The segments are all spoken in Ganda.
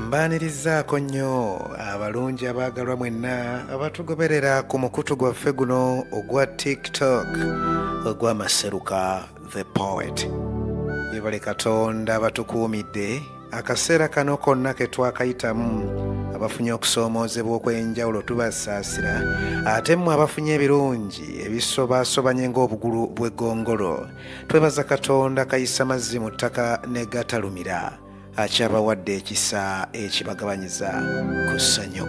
mbaanirizaako nnyo abalungi abaagalwa mwenna abatugoberera ku mukutu gwaffe guno ogwa tiktok ogw'amaseruka the poet yebale katonda batukuumidde akaseera kano konna ke twakayitamu abafunye okusoomoozebwa okw'enjawulo tubasaasira ate mmwe abafunye ebirungi ebisobaasobanye ng'obugulu bw'eggongolo twebaza katonda kayisa mazzi mu ttaka ne gatalumira akyabawadde ekisa ekibagabanyiza ku ssanyu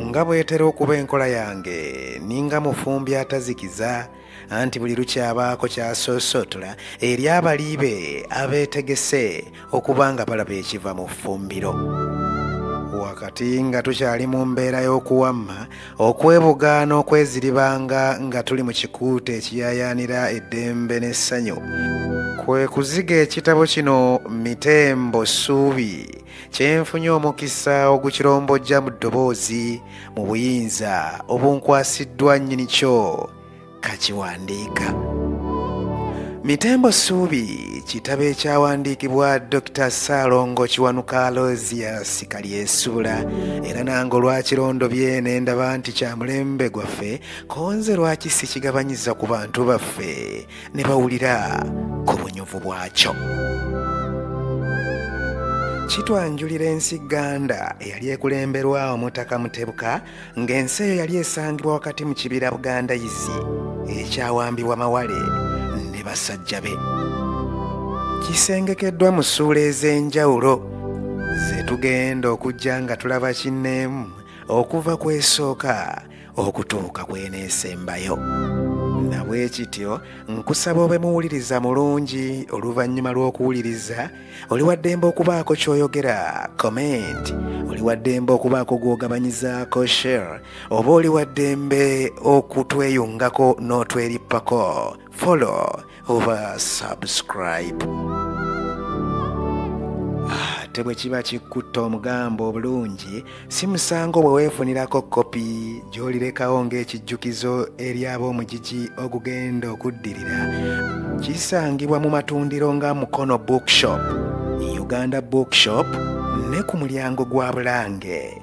nga bwetera okuba enkola yange ninga mufumbi atazikiza anti buli lukyabaako kyasoosootola eri abali be abeetegese okuba nga balaba ekiva mu ffumbiro wakati nga tukyali mu mbeera y'okuwamma okwebugaana okweziribanga nga tuli mu kikuuta ekiyayaanira eddembe n'essanyu kwe kuziga ekitabo kino mitembo ssuubi kyenfunye omukisa ogukirombojja mu ddoboozi mu buyinza obunkwasiddwa nnyini kyo kakiwandiika mitembo suubi kitabo ekyawandiikibwa dr saalongo kiwanuka alosia sikalyesuula era nange olwakirondo bye ne ndaba nti kya mulembe gwaffe konze lwaki sikigabanyiza ku bantu baffe ne bawulira ku bunyuvu bwakyo kitwanjulira ensi ganda eyali ekulemberwa omutaka mutebuka ng'ensi eyo yali esangibwa wakati mu kibira buganda izi ekyawambibwa mawale ne basajja be kisengekeddwa mu ssuula ez'enjawulo ze tugenda okujja nga tulaba kinneemu okuva ku esooka okutuuka kweneesembayo nabwekityo nkusaba obe muwuliriza mulungi oluvannyuma lw'okuwuliriza oli waddembe okubaako ky'oyogera comment oli waddembe okubaako gw'ogabanyizaako share oba oli waddembe okutweyungako n'otwerippako follow oba subscribe ate bwe kiba kikkutta omugambo obulungi si musango bwe weefunirako kopi gy'olirekawo ng'ekijjukizo eri ab'omugigi ogugenda okuddirira kisangibwa mu matundiro nga mukono bookshop uganda bookshop ne ku mulyango gwa bulange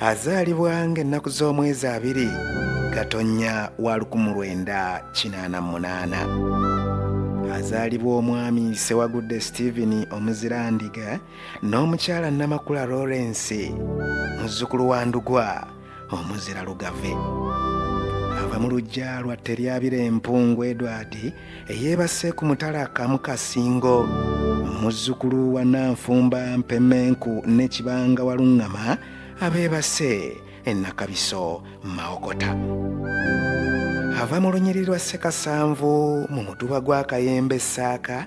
azaalibwa ng'ennaku z'omwezi abiri gatonnya wa 1988 azaalibwa omwami sewagudde stephen omuzirandiga n'omukyala namakula lawrence muzzukulu wa ndugwa omuzira lugave ava mu lujja lwa teryabira empungu edward eyeebase ku mutala kamukasingo muzzukulu wa nanfumba mpemenku ne kibanga waluŋŋama abeebase enakabiso mawokota ava mu lunyiriri lwa ssekasanvu mu mutuba gwa kayembe ssaaka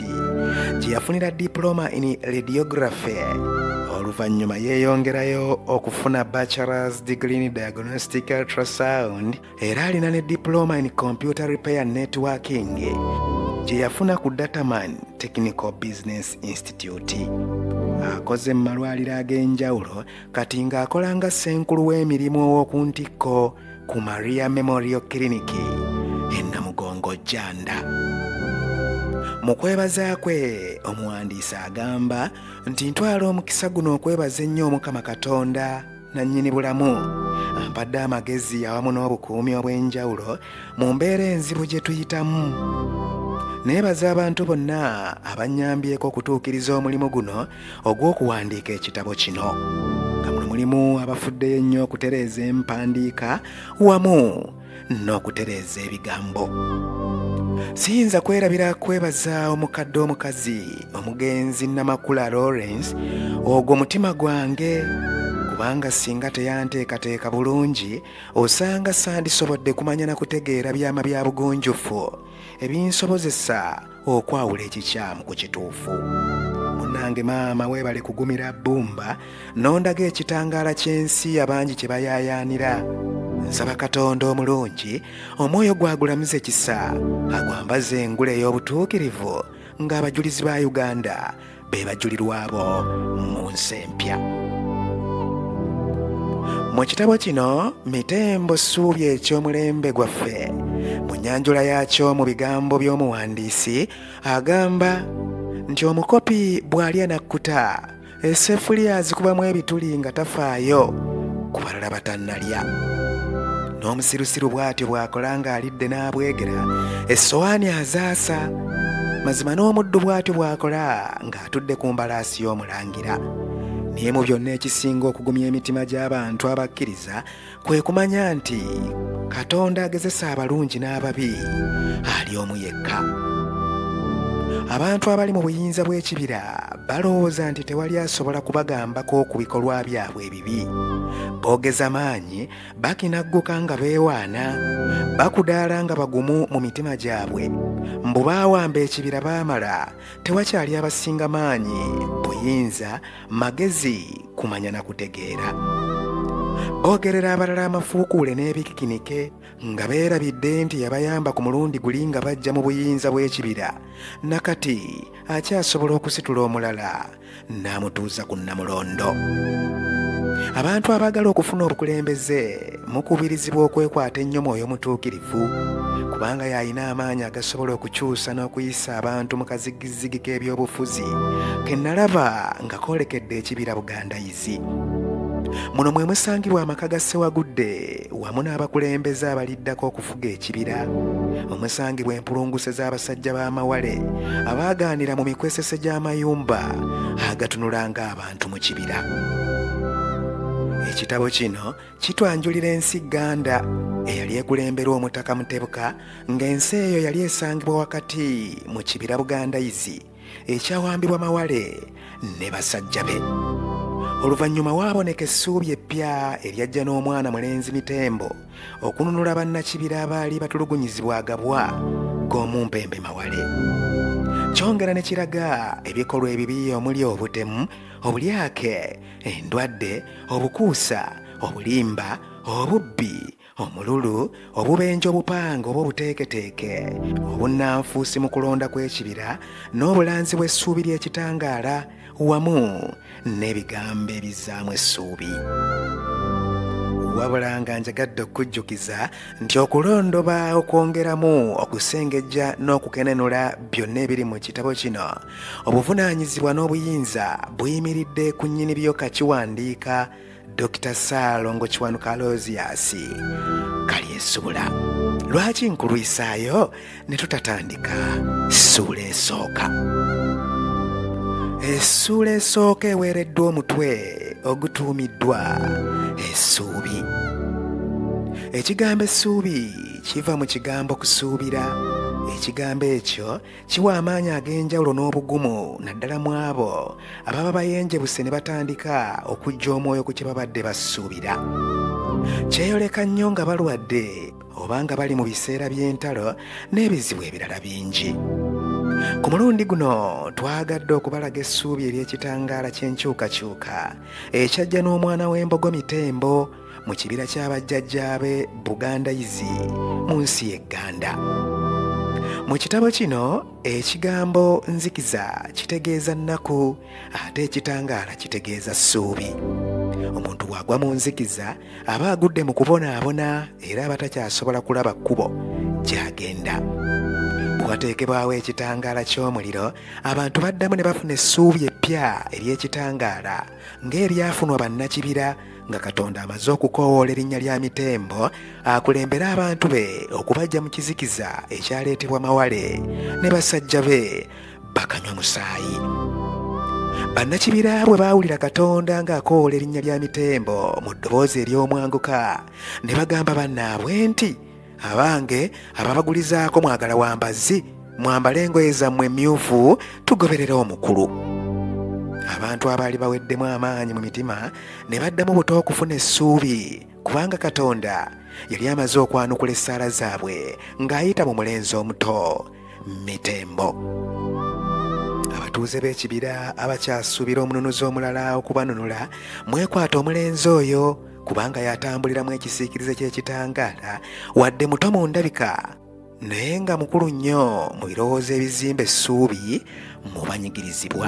gyeyafunira diploma in radiography oluvannyuma yeeyongerayo okufuna bachelors degree in diagnostic ultrasound era alina ne diploma in computer repair networking gye yafuna ku dataman technical business institute akoze mu malwaliro ag'enjawulo kati ng'akola nga ssenkulu w'emirimu ow'oku ntikko ku maria memorial clinic enamugongo janda mu kwebaza kwe omuwandiisi agamba nti ntwala omukisa guno okwebaza ennyo omukama katonda nannyini bulamu ampadde amagezi awamu n'obukuumi obw'enjawulo mu mbeera enzibu gye tuyitamu neebaza abantu bonna abannyambyeko okutuukiriza omulimu guno ogw'okuwandiika ekitabo kino nga muno mulimu abafuddeyo ennyo okutereeza empandiika wamu n'okutereeza ebigambo siyinza kwerabira kwebaza omukadde omukazi omugenzi namakula lawrence ogwo mutima gwange kubanga singa teyanteekateeka bulungi osanga sandisobodde kumanya na kutegeera byama bya bugunjufu ebinsobozesa okwawula ekikyamu ku kituufu munange maama weebale kugumira bbumba n'ondaga ekitangaala ky'ensi abangi kye bayaayaanira nsaba katonda omulungi omwoyo gwagulamuza ekisa agwambaza engule ey'obutuukirivu ng'abajulizi ba uganda be bajulirwa bo mu nsi empya mu kitabo kino mitembo ssuubi eky'omulembe gwaffe mu nyanjula yaakyo mu bigambo by'omuwandiisi agamba nti omukopi bw'alya nakkuta esefuliya azikubamu ebituli nga tafaayo ku balala batannalya n'omusirusiru bw'atyo bw'akola ng'alidde n'abwegera essowaani azaasa mazima n'omuddu bw'atyo bw'akola ng'atudde ku mbalaasi y'omulangira naye mu byonna ekisinga okugumya emitima gy'abantu abakkiriza kwe kumanya nti katonda agezesa abalungi n'ababi ali omu yekka abantu abali mu buyinza bw'ekibira balowooza nti tewali asobola kubagambako ku bikolwa byabwe ebibi boogeza maanyi bakinagguka nga beewaana bakudaala nga bagumu mu mitima gyabwe mbu baawamba ekibira baamala tewakyali abasinga maanyi buyinza magezi kumanya na kutegeera boogerera abalala amafuukuule n'ebikikinike nga beerabidde nti yabayamba ku mulundi guli nga bajja mu buyinza bw'ekibira nakati akyasobola okusitula omulala n'amutuuza ku nnamulondo abantu abaagala okufuna obukulembeze mukubirizibwa okwekwata ennyo mwoyo mutuukirivu kubanga y'alina amaanyi agasobola okukyusa n'okuyisa abantu mu kazigizigi k'ebyobufuzi ke nalaba nga koolekedde ekibira buganda Kibirizi. Muno mwe musangibwa amaka ga Ssewagudde wamu n'abakulembeze abaliddako okufuga ekibira omusangibwa empulunguse z'abasajja b'amawale abaagaanira mu mikwesese gy'amayumba agatunula ng'abantu mu kibira. Ekitabo kino kitwanjulira ensi Gganda eyali ekulemberwa omutaka Mutebuka ng'ensi eyo yali esangibwa wakati mu kibira Bugandayizi. ekyawambibwa mawale ne basajja be oluvannyuma waaboneka essuubi eppya eryajja n'omwana mulenzi mitembo okununula bannakibira abaali batulugunyizibwa agabwa g'omumpembe mawale kyongera ne kiraga ebikolwa ebibi omuli obutemu obulyake endwadde obukuusa obulimba obubbi omululu obubenje obupanga oba obuteeketeeke obunnanfuusi mu kulonda kw'ekibira n'obulanzi bw'essuubi ly'ekitangaala wamu n'ebigambo ebizzaamu essuubi wabula nga njagadde okujjukiza nti okulondoba okwongeramu okusengejja n'okukenenula byonna ebiri mu kitabo kino obuvunaanyizibwa n'obuyinza buyimiridde ku nnyini byo kakiwandiika dr saalongo kiwanuka aloziasi kali esuula lwaki nkulwisaayo ne tutatandika ssuula esooka essuula esooka eweereddwa omutwe ogutuumiddwa essuubi ekigambo essuubi kiva mu kigambo kusuubira ekigambo ekyo kiwa amaanyi ag'enjawulo n'obugumu naddala mu abo ababa bayenjebuse ne batandika okujja omwoyo ku kye babadde basuubira kyeyoleka nnyo nga balwadde oba nga bali mu biseera by'entalo n'ebizibu ebirala bingi ku mulundi guno twagadde okubalaga essuubi ery'ekitangaala ky'enkyukakyuka ekyajja n'omwana w'embogo mitembo mu kibira kya bajjajjaabe buganda izi mu nsi ye gganda mu kitabo kino ekigambo nzikiza kitegeeza nnaku ate ekitangaala kitegeeza ssuubi omuntu bw'agwa mu nzikiza aba agudde mu kubonaabona era aba takyasobola kulaba kkubo gy'agenda wateekebwawo ekitangaala ky'omuliro abantu baddamu ne bafuna essuubi eppya ery'ekitangaala ng'ebyafunwa bannakibira nga katonda amaze okukoowoola erinnya lya mitembo akulembere abantu be okubajja mu kizikiza ekyaleetebwa mawale ne basajja be bakanywa musaayi bannakibira bwe baawulira katonda ng'akoowola erinnya lya mitembo mu ddoboozi ery'omwanguka ne bagamba bannaabwe nti abange ababagulizaako mwagala wa mbazzi mwambale engoye zammwe emmyufu tugoberere omukulu abantu abaali baweddemu amaanyi mu mitima ne baddamu buto okufuna essuubi kubanga katonda yali amaze okwanukula essaala zaabwe ng'ayita mu mulenzi omuto mitembo abatuuze b'ekibira abakyasuubira omununuzi omulala okubanunula mwekwata omulenzi oyo kubanga yatambulira mu ekisiikirize ky'ekitangaala wadde muto mu ndabika naye nga mukulu nnyo mu birowoozo ebizimba essuubi mu banyigirizibwa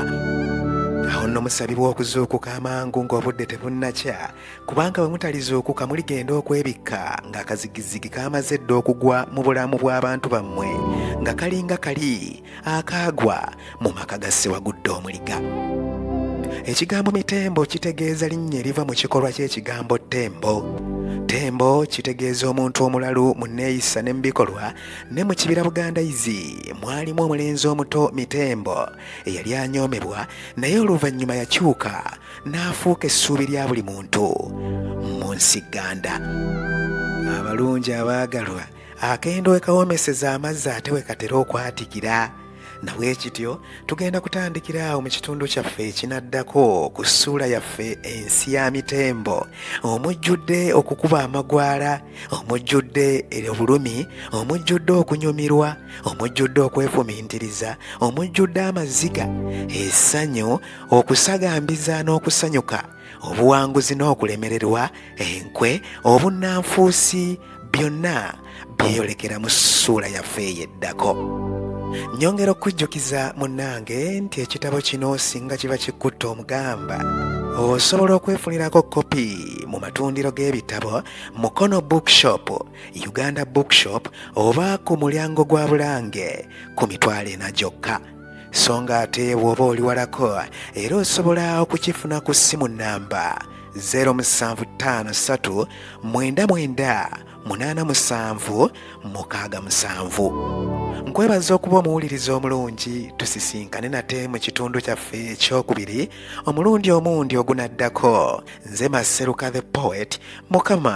awo nno musabibwa okuzuukuka amangu ng'obudde tebunnakya kubanga bwe mutalizuukuka muligenda okwebikka ng'akazigizigi kaamaze dda okugwa mu bulamu bw'abantu bammwe nga kalinga kali akaagwa mu maka ga ssewagudde omuliga ekigambo mitembo kitegeeza linnya eriva mu kikolwa ky'ekigambo tembo tembo kitegeeza omuntu omulalu mu nneeyisa ne mu bikolwa ne mu kibira buganda izi mwalimu omulenzi omuto mitembo eyali anyoomebwa naye oluvannyuma yakyuka n'afuuka essuubi lya buli muntu mu nsi ganda abalungi abaagalwa Akendo wekawomeseza amazzi ate wekatera okwatikira nabwe kityo tugenda kutandikira awo mu kitundu kyaffe ekinaddako ku ssuula yaffe ensi ya mitembo omujjudde okukuba amagwala omujjudde obulumi omujjudde okunyumirwa omujjudde okwefumintiriza omujjudde amaziga essanyu okusagambiza n'okusanyuka obuwanguzi n'okulemererwa enkwe obunnanfuusi byonna byeyolekera mu ssuula yaffe eyo eddako nyongera okujjukiza munnange nti ekitabo kino singa kiba kikutta omugamba osobola okwefunirako kopi mu matundiro g'ebitabo mukono bookshop uganda bookshop oba ku mulyango gwa bulange ku mitwalo ena gyokka so nga ate bw'oba oli walako era osobola okukifuna ku ssimu nnamba 0753 99 87 67 nkwebaza okuba omuwuliriza omulungi tusisinkane nate mu kitundu kyaffe ekyokubiri omulundi omundi ogunaddako nze maseruka the poet mukama